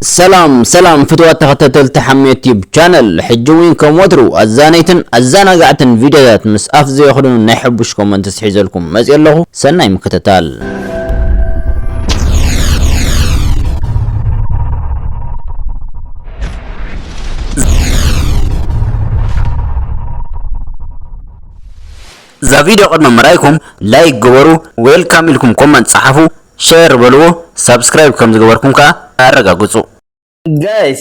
ሰላም ሰላም ፍትዋት ተኸታተልቲ ሓሜት ዩቲዩብ ቻነል ሕጂ እውን ከም ወትሩ ኣዛነይትን ኣዘናጋዕትን ቪድዮታት ምስ ኣፍ ዘየኽድኑ ናይ ሕቡሽ ኮመንት ስሒዘልኩም መፅእ ኣለኹ ሰናይ ምክትታል እዛ ቪድዮ ቅድሚ ምርኣይኩም ላይክ ግበሩ ዌልካም ኢልኩም ኮመንት ፀሓፉ ሼር በልዎ ሳብስክራይብ ከም ዝገበርኩም ከኣ ኣረጋግጹ። ጋይስ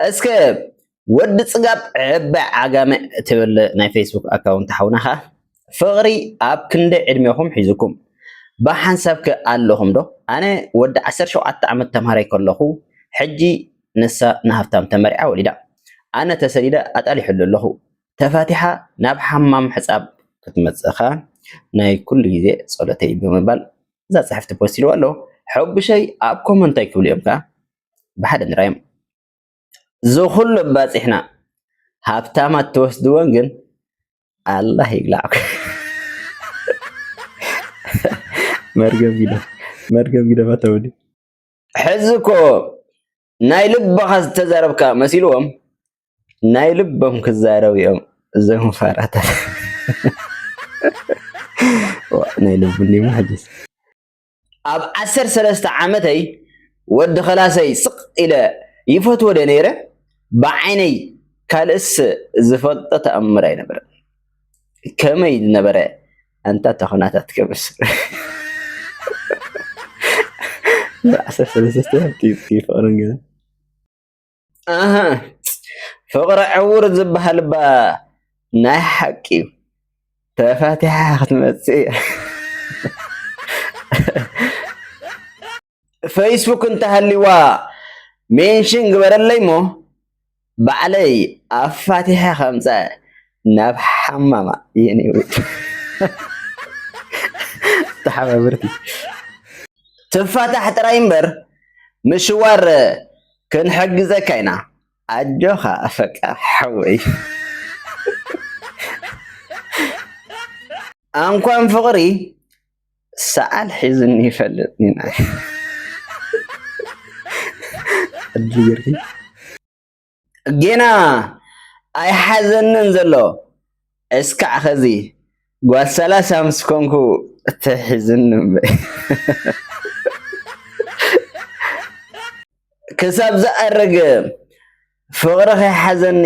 እስከ ወዲ ጽጋብ ዕባይ ዓጋመ ትብል ናይ ፈይስቡክ ኣካውንት ሓውና ከኣ ፍቅሪ ኣብ ክንደይ ዕድሜኹም ሒዙኩም ብሓንሳብ ከ ኣለኹም ዶ ኣነ ወዲ ዓሰርተ ሸውዓተ ዓመት ተምሃራይ ከለኹ ሕጂ ንሳ ንሃፍታም ተመርዕያ ወሊዳ ኣነ ተሰዲደ ኣጣሊሑሉ ኣለኹ ተፋቲሓ ናብ ሓማም ሕጻብ ክትመጽእኻ ናይ ኩሉ ግዜ ጸሎተይ ብምባል እዛ ጽሕፍቲ ፖስት ኢልዎ ኣሎ ሐቡሸይ ኣብ ኮመንት እንታይ ክብሉ እዮም ከ ብሓደ ንራዮም እዚ ኩሉ ኣባጺሕና ሃብታማት ትወስድዎን ግን ኣላህ ይብላዕኩ መርገም ግደ መርገም ግደ ፈተውኒ ሕዚ እኮ ናይ ልብኻ ዝተዛረብካ መሲልዎም ናይ ልቦም ክዛረቡ እዮም እዞም ፋራታት ናይ ልቡ እንዲሞ ሕጅስ ኣብ ዓሰር ሰለስተ ዓመተይ ወዲ ከላሰይ ስቕ ኢለ ይፈትዎ ደ ነይረ ብዓይነይ ካልእስ ዝፈልጦ ተኣምር ኣይነበረን ከመይ ዝነበረ ኣንታ እታ ኩነታት ከብስ ፍቅሪ ዕውር ዝብሃል እባ ናይ ሓቂ እዩ ተፋቲሓ ክትመፅእ እያ። ፈይስቡክ እንተሃልይዋ ሜንሽን ግበረለይ እሞ ባዕለይ ኣፋቲሐ ከምፃ ናብ ሓማማ የኔ ውድ ተሓባብርቲ ትፋታሕ ጥራይ እምበር ምሽዋር ክንሕግዘካ ኢና ኣጆኻ ኣፈቃ ሓወይ ኣንኳን ፍቅሪ ሰዓል ሒዝኒ ይፈልጥ ኒናይ ጌና ኣይሓዘንን ዘሎ እስካዕ ኸዚ ጓል ሰላሳ ምስ ኮንኩ ትሕዝኒ እምበይ ክሳብ ዝኣረገ ፍቕሪ ከይሓዘኒ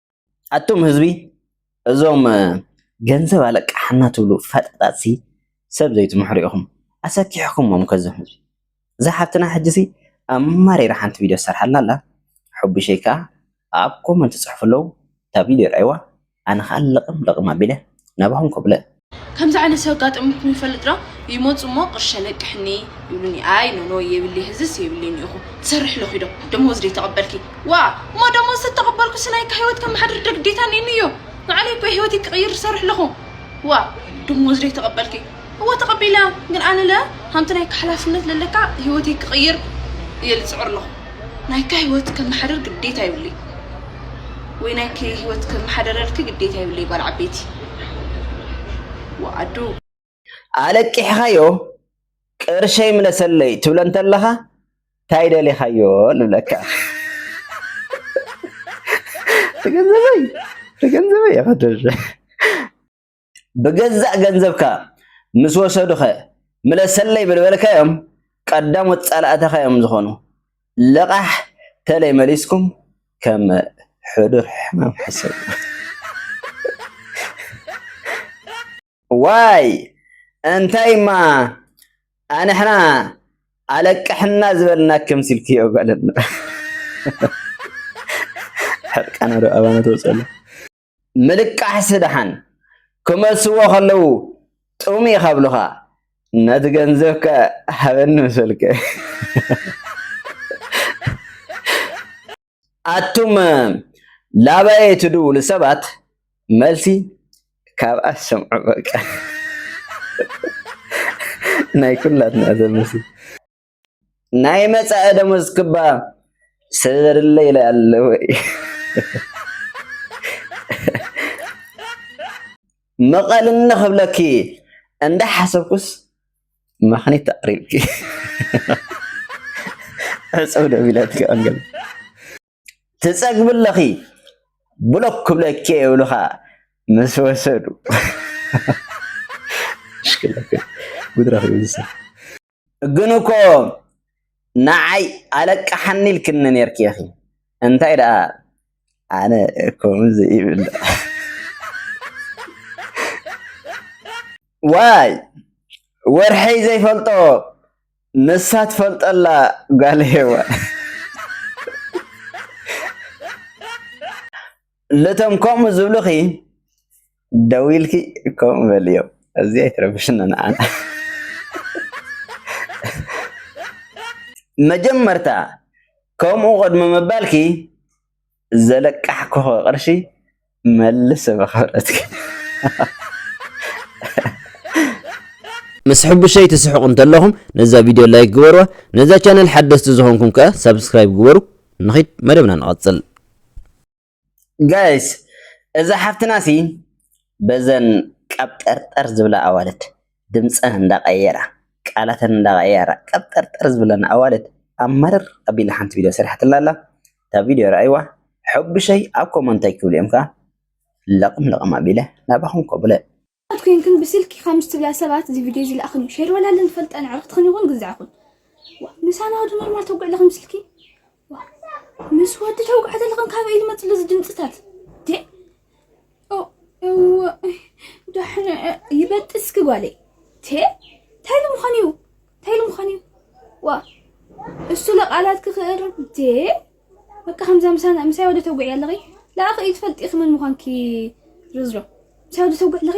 ኣቱም ህዝቢ እዞም ገንዘብ ኣለቃሓና ትብሉ ፈጣጣትሲ ሰብ ዘይትምሕሩ ኢኹም ኣሰኪሕኩሞም እኮ እዞም ህዝቢ እዛ ሓብትና ሕጂሲ ኣማሪራ ሓንቲ ቪድዮ ትሰርሓልና ኣላ ሕቡሸይ ከኣ ኣብ ኮመንት ይጽሕፉ ኣለዉ እታ ቪድዮ ርኣይዋ ኣነ ከኣ ለቕም ለቕም ኣቢለ ናባኹም ኮብለ። ከምዚ ዓይነት ሰብ ኣጋጠሙኩም ይፈልጥ ዶ ይመጹ እሞ ቅርሺ ኣለቅሕኒ ይብሉኒ ኣይ ኖኖይ የብልይ ህዝስ የብልይን ኢኹ ትሰርሒ ኣለኺ ዶ ደሞዝ ደይ ተቀበልኪ ዋእ እሞ ደሞዝ ተተቀበልኩ ስናይ ሂወት ከመሓድር ዶ ግዴታ ነይኑ እዮ ንዓለይ እኮ እየ ሂወተይ ክቅይር ዝሰርሕ ኣለኹ ዋእ ደሞዝ ደይ ተቀበልኪ እወ ተቐቢለ ግን ኣነለ ሃምቲ ናይካ ሓላፍነት ለለካ ህይወተይ ክቕይር እየ ልፅዕር ኣለኹ ናይካ ህይወት ከመሓደር ግዴታ ይብለይ ወይ ናይኪ ህይወት ከመሓደረልኪ ግዴታ ይብለይ ጓል ዓበይቲ ወኣዱ ኣለቂሕኻዮ ቅርሸይ ምለሰለይ ትብለ እንተለኻ ታይ ደሊኻዮ ንብለካ ገንዘበይ ገንዘበይ ብገዛእ ገንዘብካ ምስ ወሰዱኸ ምለሰለይ ብልበልካዮም ቀዳሞት ጸላእትኻ እዮም ዝኾኑ። ለቓሕ ተለይ መሊስኩም ከም ሕዱር ሕማም ሕሰቡ። ዋይ እንታይማ ኣንሕና ኣለቅሕና ዝበልናክም ሲልኪ ጓል ሕርቃና ዶ ኣባና ተውፅኣሉ ምልቃሕሲ ደሓን ክመልስዎ ከለዉ ጥም እዩ ካብሉኻ ነቲ ገንዘብ ከ ሃበኒ ምሰልከ ኣቱም ላባየ ትድውሉ ሰባት መልሲ ካብኣ ሰምዑ በቃ ናይ ኩላትና ዘምሲ ናይ መጻኢ ደሞዝ ክባ ሰበርለ ኢለ ኣለወ መቐልኒ ክብለኪ እንዳ ሓሰብኩስ መኽኒት ኣቕሪብኪ ዕፅው ደቢለትኪ ኣንገል ትጸግቢ ኣለኺ ብሎክ ክብለኪ እየ ይብሉኻ ምስ ወሰዱ ግን እኮ ንዓይ ኣለቃሓኒ ኢልክኒ ነርኪ ኢኺ እንታይ ደኣ ኣነ ከምዚ ይብል ዋይ ወርሐይ ዘይፈልጦ ንሳ ትፈልጠላ ጋል ሄዋ ልቶም ከምኡ ዝብልኺ ደው ኢልኪ ከምኡ በልዮም እዚ ኣይትረብሽና ንዓና መጀመርታ ከምኡ ቅድሚ ምባልኪ ዘለቃሕኩኸ ቅርሺ መልሰ ብኽብረትኪ። ምስ ሕቡሸይ ትስሕቁ እንተለኹም ነዛ ቪድዮ ላይክ ግበርዋ፣ ነዛ ቻነል ሓደስቲ ዝኾንኩም ከኣ ሳብስክራይብ ግበሩ። ንኺድ መደብና ንቐጽል። ጋይስ እዛ ሓፍትና ሲ በዘን ቀብጠርጠር ዝብላ ኣዋልድ ድምጸን እንዳቀየራ ቃላተን እንዳቀየራ ቀብጠርጠር ዝብለና ኣዋልድ ኣምርር ኣቢላ ሓንቲ ቪድዮ ሰሪሓትልና ኣላ እታ ቪድዮ ረኣይዋ ሐቡሸይ ኣብ ኮመንት ታይ ክብሉ እዮም ከኣ ለቅም ለቅም ኣቢለ ናባኩም ኮብለ። ኣሕዋት ኮይንክን ብስልኪ ከምዚ ትብላ ሰባት እዚ ቪድዮ እዚ ልኣክን ሸር በላለን ትፈልጠን ኣዕርክትክን ይኩን ግዛዕኩን ዋእ ምሳና ወዲ ኖርማል ተጉዕ ለክን ብስልኪ ምስ ወዲ ተውቃዕተ ለኸን ካበይ ዝመፅ ለዚ ድምፅታት ዴ እወ ዳሕነ ይበጥስኪ ጓለይ ቴ እንታይ ልምዃን እዩ እንታይ ልምዃን እዩ ዋ እሱ ለቃላት ክኽእር ዴ በቃ ከምዛ ምሳና ምሳይ ወደ ተውግዒ ኣለኺ ለኣኸ እዩ ትፈልጢ ኽመን ምዃንኪ ርዝሮ ምሳይ ወደ ተውግዒ ኣለኺ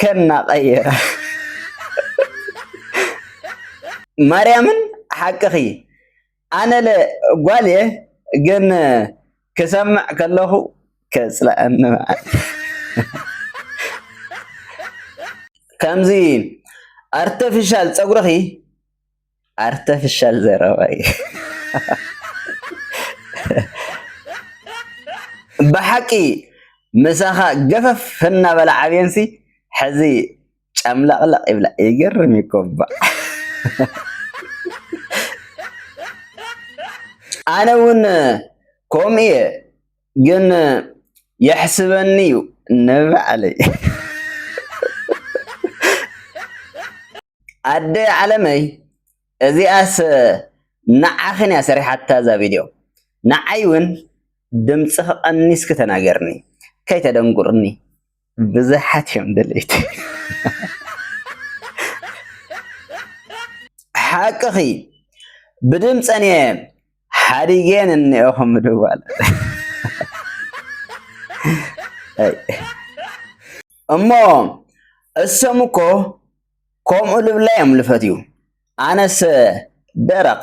ከና ቀይራ ማርያምን ሓቅኺ ኣነለ ጓልየ ግን ክሰምዕ ከለኹ ከፅለኣኒ ከምዚ ኣርተፊሻል ፀጉርኺ ኣርተፍሻል ዘረባ እዩ ብሓቂ ምሳኻ ገፈፍ እናበላ ዓብየንሲ ሕዚ ጨምለቕለቕ ይብላ ይገርም እዩ እኮ እባ ኣነ እውን ከምኡ እየ ግን የሕስበኒ እዩ ንባዕለይ ኣደ ዓለመይ እዚኣስ ንዓኽን እያ ሰሪሓታ እዛ ቪድዮ ንዓይ እውን ድምፅኺ ቀኒስኪ ተናገርኒ ከይተደንጉርኒ ብዝሓት እዮም ደለይቲ ሓቅኺ ብድምፀን እየ ሓዲገን እኒኦኹ ምድዋል እሞ እሶም እኮ ከምኡ ልብላ እዮም ልፈትዩ ኣነስ ደረቕ